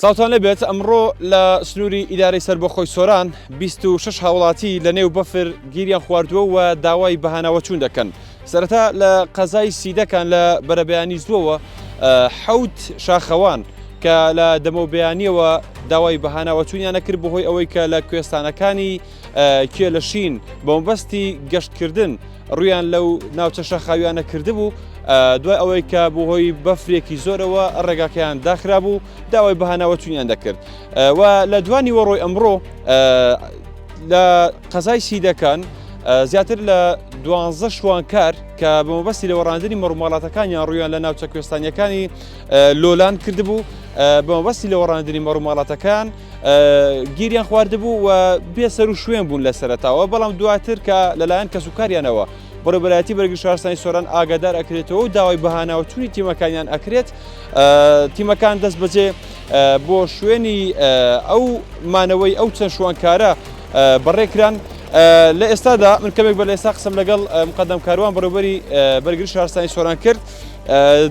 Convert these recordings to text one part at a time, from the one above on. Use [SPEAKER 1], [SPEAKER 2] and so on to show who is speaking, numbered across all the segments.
[SPEAKER 1] سڵاوتان لێبێت ئەمڕۆ لە سنووری ئیدارەی سەربەخۆی سۆران بیست و شەش هاوڵاتی لە نێو بەفر گیریان خواردووە و داوای بەهاناوەچوون دەکەن سەرەتا لە قەزای سیدەکان لە بەرەبەیانی زووەوە حەوت شاخەوان کە لە دەمەوبیانیەوە داوای بەهاناوەچوونیانە کرد بەهۆی ئەوەی کە لە کوێستانەکانی کێ لە شین بە مەبەستی گەشتکردن ڕویان لەو ناوچە شاخاویانە کردبوو دوای ئەوەی کە بۆ هۆی بەفرێکی زۆرەوە ڕێگاکەیان داخرا بوو داوای بەهانەوە چونیان دەکرد و لە دوانی وەڕۆی ئەمڕۆ لە قەزای سیدەکان زیاتر لە دوانزە شوانکار کە بە مەبەستی لە وەڕاندنی مەڕوماڵاتەکانیان ڕویان لە ناوچە کوێستانیەکانی لۆلان کردبوو بە مەبەستی لە وەڕاندنی مەڕوماڵاتەکان گیریان خواردبوو و بێ سەر و شوێن بوون لە سەرتاوە بەڵام دواتر کە لەلایەن کەس و کاریانەوە بەڕێبەرایەتی بەرگی شارستانی سۆران ئاگادار ئەکرێتەوە و داوای بەهاناوە چووی تیمەکانیان ئەکرێت تیمەکان دەست بەجێ بۆ شوێنی ئەو مانەوەی ئەو چەند شوانکارە بەڕێکران لە ئێستادا من کەمێک بە لە ئێستا قسم لەگەڵ مقدم کاروان بەڕێبەری بەرگری شارستانی سۆران کرد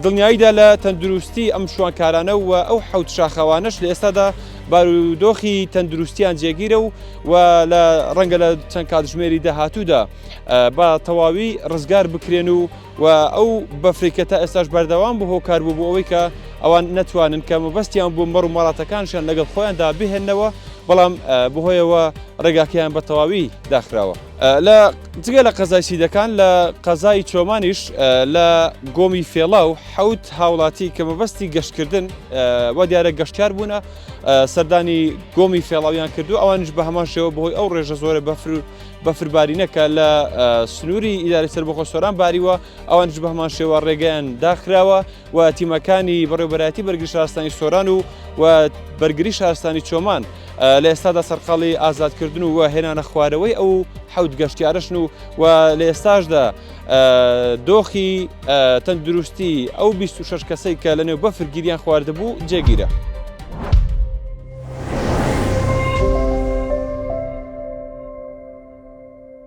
[SPEAKER 1] دڵنیاییدا لە تەندروستی ئەم شوانکارانە و ئەو حەوت شاخەوانەش لە ئێستادا بارودۆخی تەندروستیان جێگیرە و و لە ڕەنگە لە چەند کاتژمێری داهاتوودا بە تەواوی ڕزگار بکرێن و و ئەو بەفریکە تا ئێستاش بەردەوام بوو هۆکار بوو بۆ ئەوەی کە ئەوان نەتوانن کە مەبەستیان بوو مەڕ و مەڵاتەکانشان لەگەڵ خۆیاندا بهێنەوە بەڵام بهۆیەوە ڕێگاکەیان بە تەواوی داخراوە. لە جگە لە قەزای سیدەکان لە قەزای چۆمانیش لە گۆمی فێڵا و حەوت هاوڵاتی کە مەبەستی گەشتکردن وە دیارە گەشتار بوونە سەردانی گۆمی فێڵاویان کردو ئەوانش بە هەمان شێوە بەهۆی ئەو ڕێژە زۆرە بەفر و بەفربارینەکە لە سنووری ئیداری سەر بەخۆ سۆران باریوە ئەوانش بە هەمان شێوە ڕێگەیان داخراوە و تیمەکانی بەڕێوبەرایەتی بەرگری شارستانی سۆران و و بەرگری شارستانی چۆمان لە ئێستادا سەرقاڵی ئازادکردن و هێنانە خوارەوەی ئەو حەوت گەشتیارشن و و لە ئێستاشدا دۆخی تەندروستی ئەو 26 کەسەی کە لەنێو بەفرگیریان خواردبوو جێگیرە.